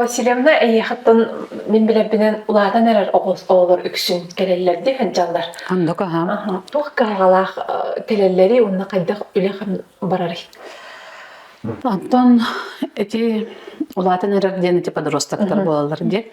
Васильевна эйиэхиттэн мин билэрбинэн улаатан эрэр оҕолор үксүн кэлэллэр дии сылдьаллар. Анда каһаам. Туох кыһалҕалаах кэлэллэрий уонна хайдах үлэ барарый? Оттон ити улаатан эрэр диэн ити подростоктар буолаллар дии.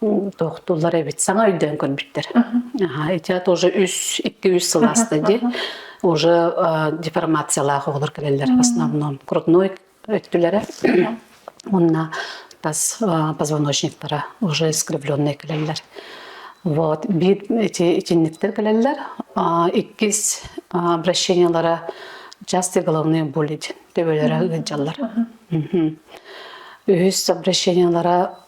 тохтуулар эбит саҥа өйдөөн көрбүттэр аха итя тоже үс икки үс сыл ааста ди уже деформациялаах оҕолор кэлэллэр в основном грудной өттүлэрэ уонна тас позвоночниктара уже искривленные кэлэллэр вот бит эти итинниктер кэлэллэр иккис обращениялара частые головные боли төбөлөрө ыалдьаллар үһүс обращениялара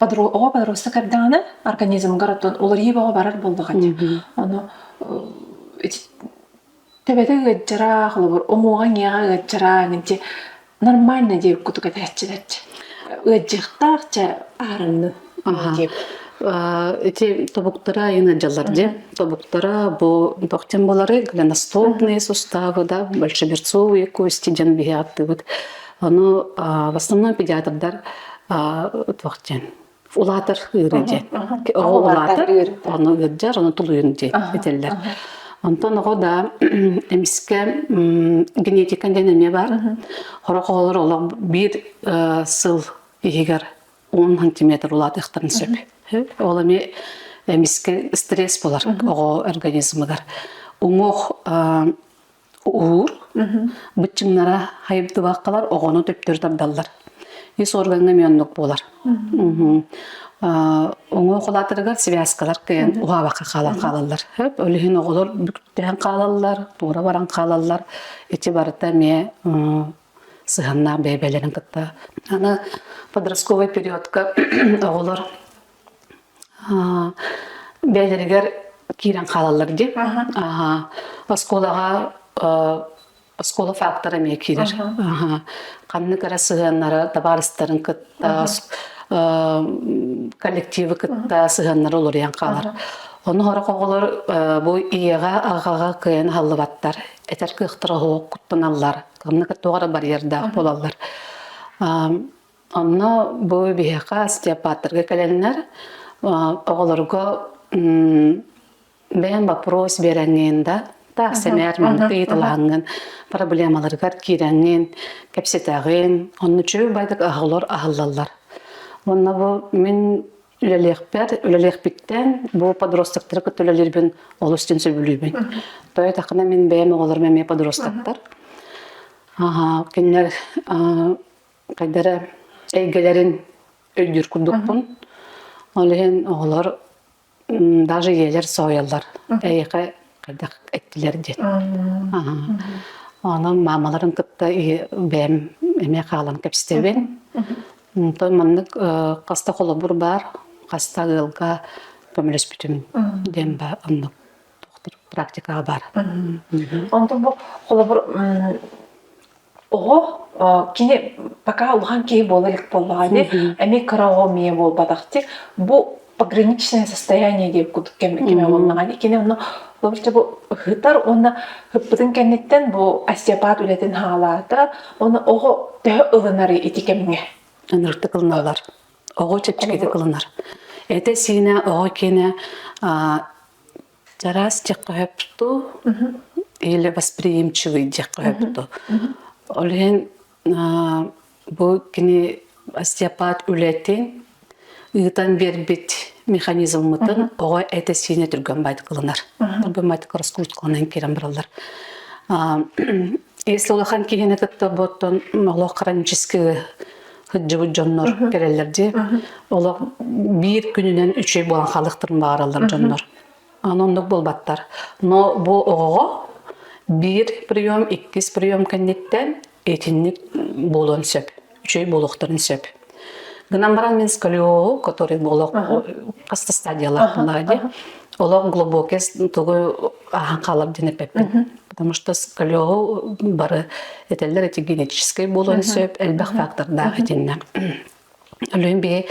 оҕо подросток эрдэҕинэ организмгар оттон уларыйыы бөҕө барар буолбаҕа дии. Ону төбөтө ыаччара, холобур, уҥуоҕа иҥиэҕэ ыаччара ынчи нормально диир кутук этээччилэр дьэ. Ыаддьыктаах чэ аарынны. Эти тобуктара айына дьаллар дьэ. Тобуктара бу бахтен болары глиностопные суставы, да, большеберцовые кости дьан биһи аттыбыт. Ону в основном педиатрдар туох диэн улаатар ыарыы диэн. Оҕо улаатар, ону ыырдьар, ону тулуйун диэн этэллэр. Онтон оҕо да эмискэ генетика диэн эмиэ бар. Хорох оҕолор олох биир сыл иһигэр он сантиметр улаатыахтарын сөп. Ол эмиэ эмискэ стресс болар оҕо организмыгар. Уҥуох Уур. Быччыҥнара хайырдыбаккалар оҕону төптөр тардаллар. Ис органга мённук буолар. Оңо холаатырыгар связкалар кыйан уһаабакка хаалаллар. Хөп, олүһүн оҕолор бүктээн хаалаллар, туора баран хаалаллар. Ити барыта эмиэ сыһаннаах бэйбэлэрин кытта. Аны подростковый периодка оҕолор бэйэлэригэр киирэн хаалаллар дии. Оскуолаҕа оскуола фактора эмиэ киирэр. Ханнык эрэ сыһыаннара табаарыстарын кытта коллективы кытта сыһыаннара уларыйан хаалар. Ону хорох оҕолор бу ийэҕэ, аҕаҕа кыайан аһыллыбаттар. Этэр кыахтара оһуок куттаналлар. Ханнык туох эрэ барьердаах буолаллар. Онно бу биһиэхэ остеопаттарга кэлэннэр оҕолорго бэйэм боппуруос биэрэҥҥин да таах сэмээрмин ыйыталаһаҥҥын проблемаларыгар киирэҥҥин кэпсэтэҕин онно үчүгэй байдык аһылар аһыллаллар уонна бу мин үлэлиэхпэр үлэлиэхпиттэн бу подростоктары кытта үлэлиирбин олус дьин сөбүлүүбүн то этахына мин бэйэм оҕолорум эмиэ подростоктар аха кинилэр хайдара эйгэлэрин өйдүүр курдукпун. Ол иһин оҕолор даже ийэлэр соһуйаллар эйиэхэ хайдах эттилэр диэн. Онон маамаларын кытта бэйэм эмиэ хаалан кэпсэтэбин. Онтон маннык хаста холобур баар, хаста ыалга көмөлөспүтүм диэн ба оннук. практикаҕа баар. Онтон бу холобур оҕо кини пока улахан киһи буола илик буоллаҕа ини эми кыраҕа мие буолбатахтык бу пограничное состояние диэб курдук кэм кэме буоллаҕа ини кини онно былырча бу ыһытар уонна ыппытын кэнниттэн бу остеопат үлэтин хаалаата оны оҕо төһө ылынары ити кэмҥэ ыныртык ылыналар оҕо чэпчэкитик ылынар эте сиинэ оҕо киэнэ Араас дьиэххэ сөптүү или восприимчивый дьиэххэ сөптүү. Ол иһин бу кини остеопат үлэтин ыытан биэрбит механизммытын оҕо этэ-сиинэ түргэн баайдык ылынар. Быаматык раскруткаланан киирэн бараллар. Если улахан киһини кытта буоттон олох хронический сылдьыбыт дьоннор кэлэллэр дии. Олох биир күнүнэн үчүгэй буолан халыктырын баараллар дьоннор. Аны оннук буолбаттар. Но бу оҕоҕо биир прием, иккис прием кэнниттэн итинник буолуон сөп. Үчүгэй буолуохтарын сөп. Гынан баран мин сколиол, который олох хастастадиялар булаа дии. Олох глубокий тугу ахан халап ден эпеппин. потому что скалеҕа бары этэллэр эти генетическэй буолуон сөп элбэх фактордаах итиннэ Өлүөн биһи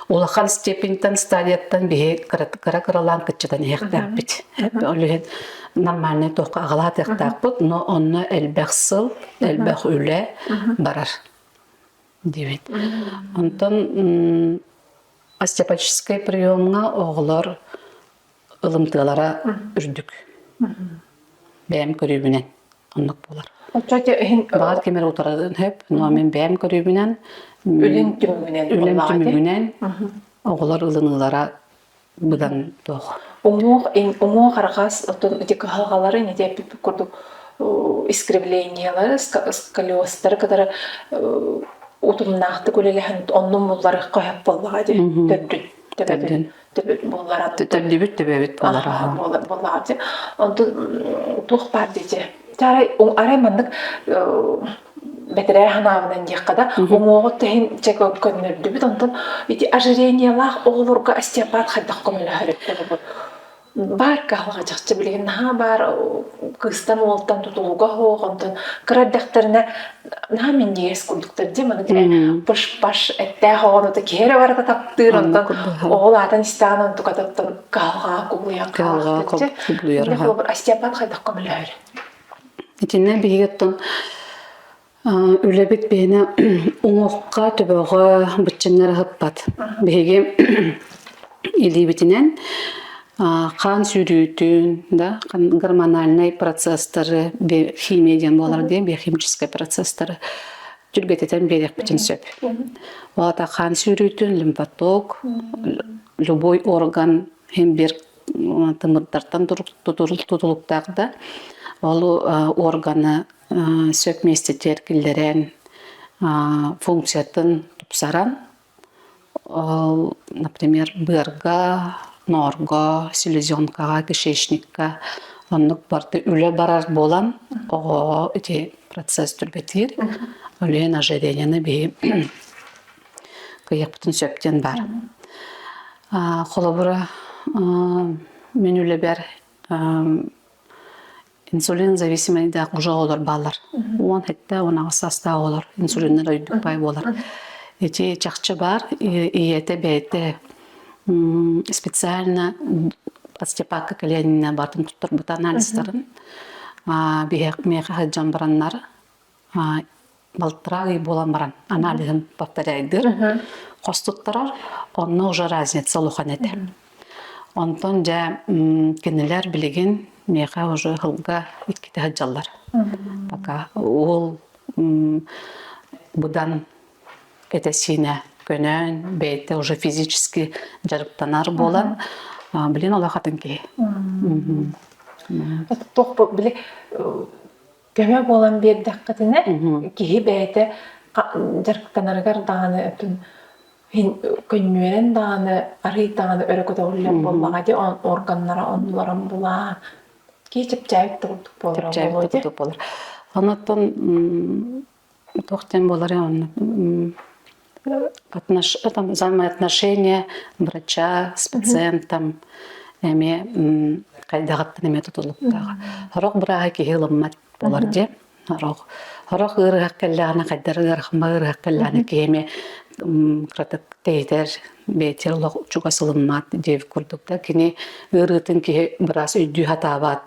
улахан степеньтан стадияттан биһи кыра кыралаан кыччатан иһэхтээхпит. Өлүһүн нормальный тохка агалаатыктаахпыт, но онно элбэх сыл, элбэх үлэ барар. Дивит. Онтон остеопатическай приемга оголор ылымтыалара үрдүк. Бэйэм көрүүбүнэн оннук буолар. Оччо иһин баҕар ким эрэ утарарын сөп, но мин бэйэм көрүүбүнэн үлэм түмүгүнэн үлэм түмүгүнэн оҕолор ылыныылара быдан туох уҥуох уҥуох арҕас оттон эти кыһалҕаларын ити эппиппит курдук искривлениелары сколиозтары кытары утумнаахтык үлэлэһэн оннун булларыахха сөп буоллаҕа дии төрдүн төбөбүт буоллара төллүбүт төбөбүт буолара буоллаҕа онтон туох баар дии арай арай маннык бэтэрээ ханаабынан диэххэ да уҥуоҕут тэһин көннөрдүбүт онтон ити ожирениелаах оҕолорго остеопат хайдах көмөлөһөрүттебут баар каалҕачахчы билигин наһаа баар кыыстан уолтан тутулуга оһох онтон кыра эрдэхтэринэ наһаа минньигэс курдуктар дим аны пыш-паш эттээх оҕону киһи эрэ барыта таптыыр онтон оҕол аатын истэҕин онтукатыттан кыһалҕаҕа кубулуйан хаалар Остапан хайдах көмөлөһөр итиннэ биһиги оттон үлэбит биһине уҥуохха төбөҕө быччыннар аһыппат биһиги илиибитинэн хаан сүүрүүтүн да гормональнай процесстары химия диэн буолар диэн биохимическай процесстары түргэтитэн биэриэхпитин сөп олата хаан сүүрүүтүн лимфоток любой орган химбир тымырдартан тутулуктаах да ол органы сөп миэстэ тиэркиллэрэн функциятын тупсаран Ол, например, быарга, ноорго, селезенкаҕа, кишечникка оннук барыта үлэ барар буолан оҕоҕо ити процесс түргэтиир. Үлүһүн ожиренияны биһи кыйахпытын сөп диэн баар. Холобура, мин үлэбэр Инсулин зависимойдаах уже оҕолор баалар. Уон этте, он аҕыс састаах олор инсулиннар өйдүк бай болар. Эти чахчы бар, ийете бэйте специально подстепакка калианина батын туттар бут анализтарын. Бихек меха жан бараннар балтыраа ый буолан баран аналиһын повторяйдыыр хос туттарар онно уже разница улахан этэ онтон дьэ кинилэр билигин миэхэ уже ыһылга иккитэ сылдьаллар пока уол быдан этэ-сиинэ көнөн бэйэтэ уже физически дьарыктанар буолан билин олох атын киһи туох били көмө буолан биэрдэххитинэ, киһи бэйэтэ дьарыктанарыгар даҕаны өтүн көнньүөрэн даҕаны арыый даҕаны өрө көтөҕүллэр буоллаҕа дии органнара оннуларын булаан кии чэпчээбит курдук буолара буолуо дии. Онуттан туох диэн буолар онно взаимные отношения врача с пациентом эмиэ хайдаҕыттан эмиэ тутулуктаах сорох бырааһа киһи ылыммат буолар дии сорох сорох ыарыһах кэллэҕинэ хайдар ыарахма ыарыһах кэллэҕинэ киһи эмиэ кыратык тэйитэр бэйэтигэр олох чугас ылыммат диэбит курдук да кини ыарыытын киһи быраас өйдүү сатаабат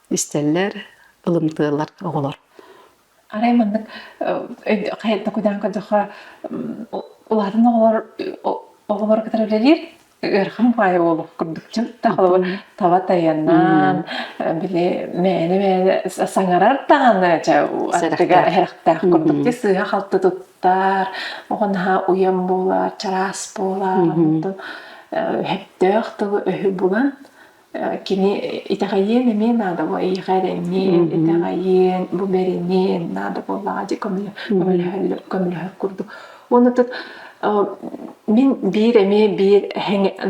истэллэр, ылымтыалар оҕолор. Арай маннык хайан токуйдаан көрдөхө улаатан оҕолор оҕолор кытары үлэлиир ыарахан баайа буолуох курдук таба тайаннаан били мээнэ мээнэ саҥарар даҕаны аттыга эһэрэхтээх курдук би сыыһа халты туттар оҕо наһаа уйан буолар чараас буолар онтон өһөптөөх тылы өһү булан Кини итэҕэйиэн эмиэ наада бу эйиэхэ эрэ эмиэ итэҕэйиэн, бу бэриниэн наада буоллаҕа дии көмөлөһөр көмөлөһөр курдук. Уонна тут мин биир эмиэ биир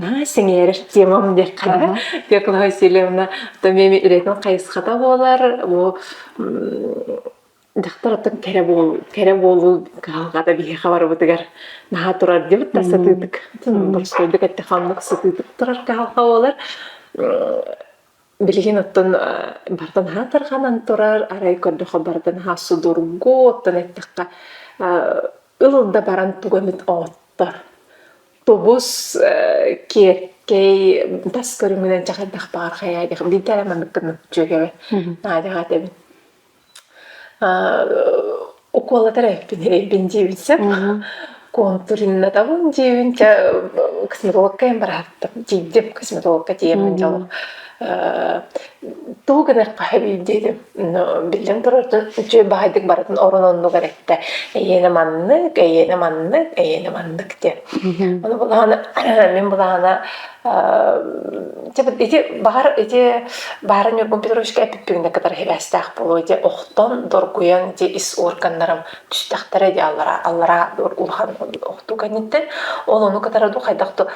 наһаа сэҥээрэр темам диэххэ Пеклова Васильевна то меми ирэтин хайысхата буолар бу Дьахтар оттон кэрэ буол кэрэ буолуу кыһалҕата биһиэхэ барыбытыгар наһаа турар диэбит да сатыытык. Боростуойдук этэ ханнык сытыытык турар кыһалҕа буолар. Билигин оттон барыта наһаа тарҕанан турар, арай көрдөхө барыта наһаа судургу, оттон эттэххэ ыл да баран туга эмит оттор. Тубус, киэркэй, тас көрүҥүнэн чахайдах баар хайаа диэх биирдэ эрэ маннык гыннык үчүгэбин. Наадьаҕа этэбин. укуолатар эбиппин эбиппин дьиэбин сөп куонтуриннатабын дьиэбин чэ косметологкайын барааттым дьиибдим косметологка тиийэммин дьоло тугу гыныахха эбий диэтим биллэн турар үчүгэй баһайдык барытын орон оннук эрэттэ эйиэнэ маннык эйиэнэ маннык эйиэнэ маннык диэн ону булаһана мин булаһана ити баҕар ити баара Ньургун Петровичка эппиппигинэ кытары сибээстээх буолуо ити охтон доргуйан ити ис органнарым түстэхтэрэ дии аллараа аллараа улахан охтуу кэнниттэн ол ону кытары ду хайдах да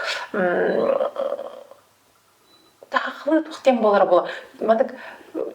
тахахлыы туох диэн буолара буолуо маннык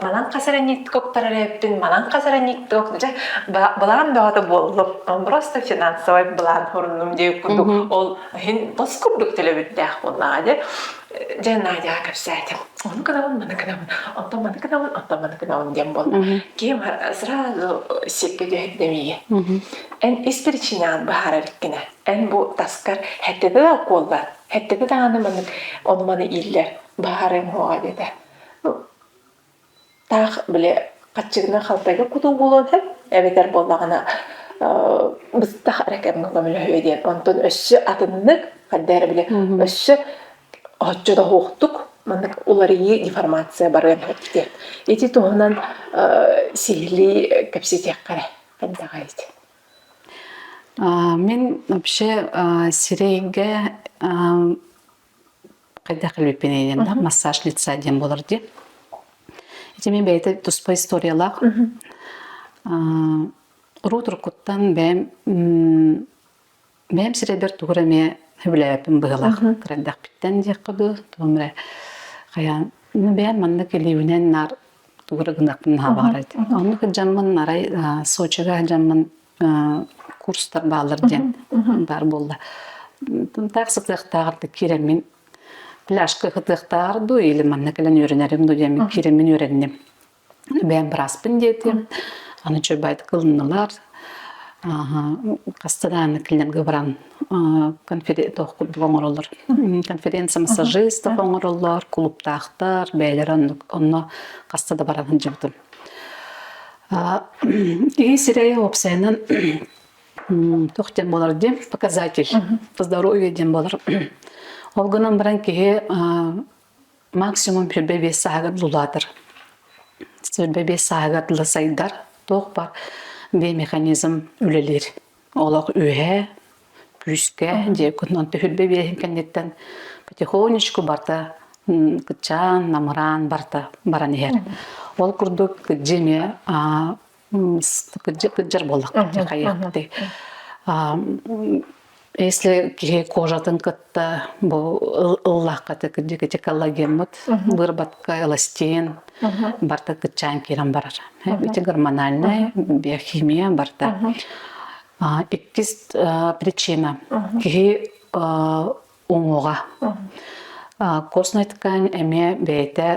манан хасаранникты куптарарыыптын манан хасаранникток дьэ былаан бөҕөтө буоллум просто финансовый блан хуруннум дии курдук ол иһин тос курдук төлөбүттээх буоллаҕа дьэ дьэ Надя кэпсээтим ону гынабын маны гынабын оттон маны гынабын оттон маны гынабын диэн буолла ким сразу сипке түһэрдэмиги эн ис причинян баһарар кине эн бу таскар хэттеге укуоллар хэттеге дааны маннык ону маны ииллэр баарыҥ хоҕа дете Таах били хаччыгынан халтайга кутуу буолуон сөп эбэтэр буоллаҕына быстах эрэ кэмҥэ көмөлөһүө диэн онтон өссө атыннык хайда эрэ били өссө оччо да уһуохтук маннык уларыйыы деформация барыан сөп диэн ити туһунан сиһилии кэпсэтиэххэ эрэ хайдаҕай ити мин вообще сирэйгэ Хайдах илиппинэйдэн да массаж лица диэн буолар дии. Ити мин бэйэтэ туспа историялаах. Урут уруккуттан бэйэм бэйэм сирэйбэр тугу эмэ сөбүлээбэппин быһыылаах. Кырайдахпиттан диэххэ дуу, тугу эмэ хайаан бэйэм маннык илиибинэн наар тугу эрэ гынахпын наһаабаҕар оннук дьаммын арай сочига дьаммын курстар баалар диэн баар буолла таах сытыахтааҕар киирэммин пляжка кытыахтааҕар дуу или манна кэлэн үөрэнэрим дуу диэммин киирэммин үөрэнним бэйэм бырааспын диэтим аны чөйбайт кылыннылар хаста дааны килнемге баран конференция оҥороллор конференция-массажистов оҥороллор кулуптаахтар бэйэлэрэ онно хаста да баран сылдьыбытым киһи сирэйэ уопсайынан туох диэн буолар диэн показатель здоровье диэн буолар ол гынан баран киһи максимум сүүрбэ биэс сааһыгар дулаатар сүүрбэ биэс сааһыгар дыла сайдар туох бар беймеханизм үлэлиир олох үөһэ күүскэ дьиэ кутунан түһүр бэбиэһин кэнниттэн потихонечку барта кычаан намыраан барта баран иһэр ол курдук кыдьы эмиэ кыдьар буоллахха хайыахпытый если киһи кожатын та бу ыллаххата кырдьыгыча коллагеммыт быырбатка эластиин барта кыччаан киирэн барар ити гормональнай биохимия барта иккис причина киһи уҥуоҕа костная ткань эмиэ бэйэтэ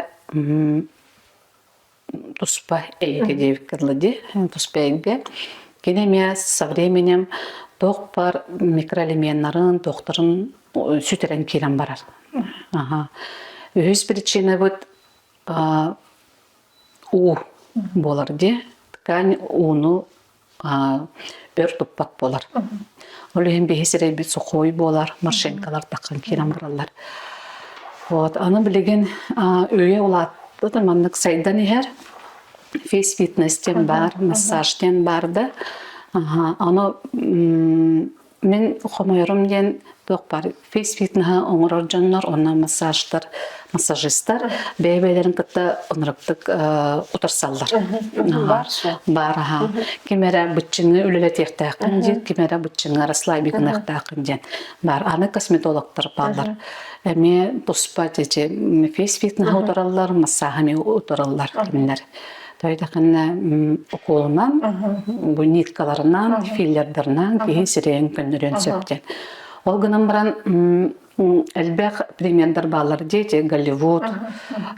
туспа эйиэгэ диэбиккэ дылы дии туспа эйгэ кини эмиэ со временем туох бар микроэлеменнарын туохтарын сүтэрэн киирэн барар аха үһүс причинабыт уу буолар дии ткань ууну өр туппат буолар. Ол иһин биһи сирэйбит сухой буолар, машинкалар таххан киирэн бараллар. Вот, аны билигин өйө улаатпыт маннык сайдан иһэр. Фейс фитнес диэн баар, массаж диэн бар да. Аны Мин хомойорум диэн туох баар фейс-фитнеһы оҥорор дьоннор уонна массажтар, массажистар бэйэ-бэйэлэрин кытта оноруктук утарсаллар. Баар аха. Ким эрэ быччыны үлэлэтиэхтээххин диэн, ким эрэ быччыҥа расслабик гыныахтааххын диэн. Баар аны косметологтар бааллар. Эмиэ туспа эти фейс-фитнеһы утараллар, массааһы эмиэ утараллар кинилэр. Тайдахынна укуолунан, буниткаларынан, филлердарынан киһи сирэйин көннөрүөн сөптен. Ол гынан баран элбэх примердар баалар дети, Голливуд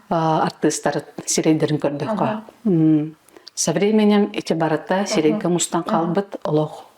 артыыстар сирэйдэрин көрдөххө. Со временем эти барыта сирэйгэ мустан хаалбыт олох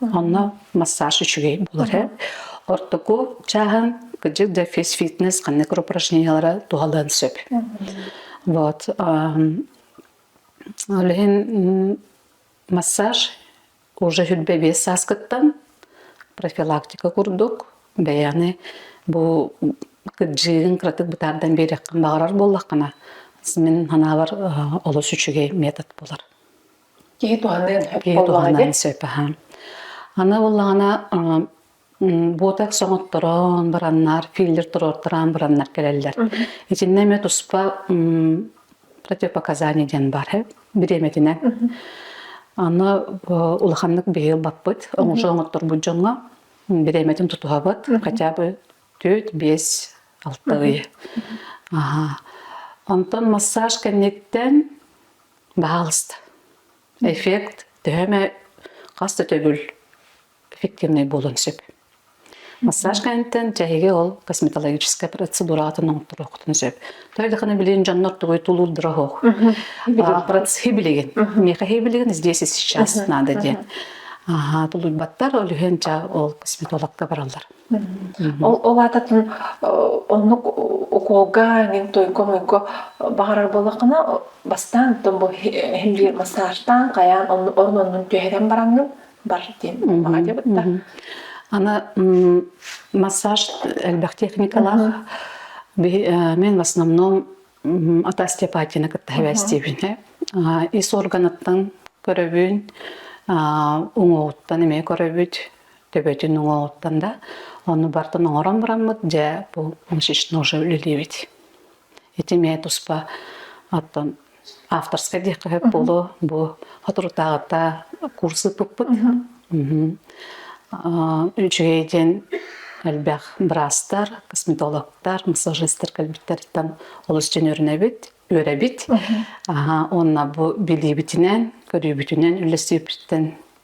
Онно массаж үчүгэй булар эбит. Ортоку чааһын кыдьык да физфитнес ханнык упражнениялара туһалыан сөп. Вот. Олехин массаж уже хүлбэ биэс сааскыттан профилактика курдук бэйэни бу кыдьыын кыратык бытаардан биэрэххин баҕарар буоллаххына мин ханаабар олус үчүгэй метод булар Киһи туһанан киһи туһанан сөп аһаан. Аны буллаҕына буотек соҥотторон бараннар, филлер туруортараан бараннар кэлэллэр. Итиннэ эмэ туспа противопоказание диэн бар бириэмэтинэн. Аны улаханнык биһи ылбаппыт, оңошо оҥотторбут дьоҥҥо бириэмэтин тутуһабыт, хотя бы төрт, бес, алты ый. Онтон массаж кэнниттэн Баҕаҕыста. Эффект төһө эмэ хас да төгүл эффективнэй буолуон сөп. Массаж кэнниттэн чэһиги ол косметологическай процедураҕытын оҥотторуоххутун сөп. Тоҕо даҕаны билигин дьоннор тугуй тулуурдара оһох. А, Процеһы билигин. Миэхэһи билигин здесь и сейчас наада диэн. Аһаа, тулуйбаттар, ол үһүн ча ол косметологка бараллар. Ол ол аататын оннук укуолга эҥин туйга-муйга баҕарар буоллаххына бастаан тон бу иһиллиир массажтаан хайаан онну орун оннун түһэрэн бараҥҥын бар диэн баҕа дебытта ана массаж элбэх техникалаах мен в основном от остеопатияны кытта хабээстиибинэ ис органыттан көрөбүн уҥуоҕуттан эмиэ көрөбүт төбөтүн уҥуоҕуттан да ону бартан оҥорон бараммыт дьэ бу мышечно уже үлэлиибит ити эмиэ туспа оттон авторскай диэххэ сөп буолуо бу соторутааҕыта курс ыыппыппыт үчүгэй диэн элбэх быраастар косметологтар массажистер кэлбиттэриттэн олус дьөнөрүнэбит үөрэбит уонна бу билиибитинэн көрүүбүтүнэн үлэлсиибититтэн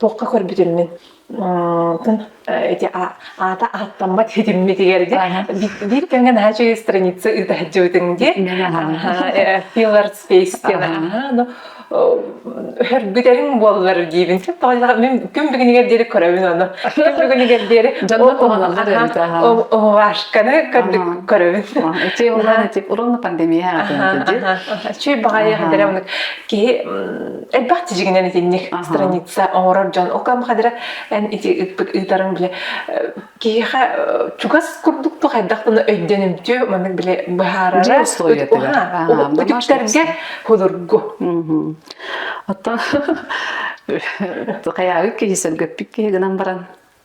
Туохха көрбүтүммүн ити аата ааттаммат этиммитигэр дии биир кэмҥэ наһаа үчүгэй страница ыыта сылдьыбытыҥ дии Pillar Space диэн хөргүтэриҥ буоллар диибин тоҕо мин күн бүгүнүгэр диэри көрөбүн ону күн бүгүнүгэр диэри вашканы көрөбүн ити уран пандемия үчүй баҕайы дэрэ киһи элбэх тижигинен итинник страница оҥорор дьон окам хадыра эн ити ыппыт ыытарын биле киһиэхэ чугас курдук ту хайдахтана өйдөнүмтүө маннык биле быһаарара үтүктэргэ худургу оттон хайаагы киһи сөлгөппүк киһи гынан баран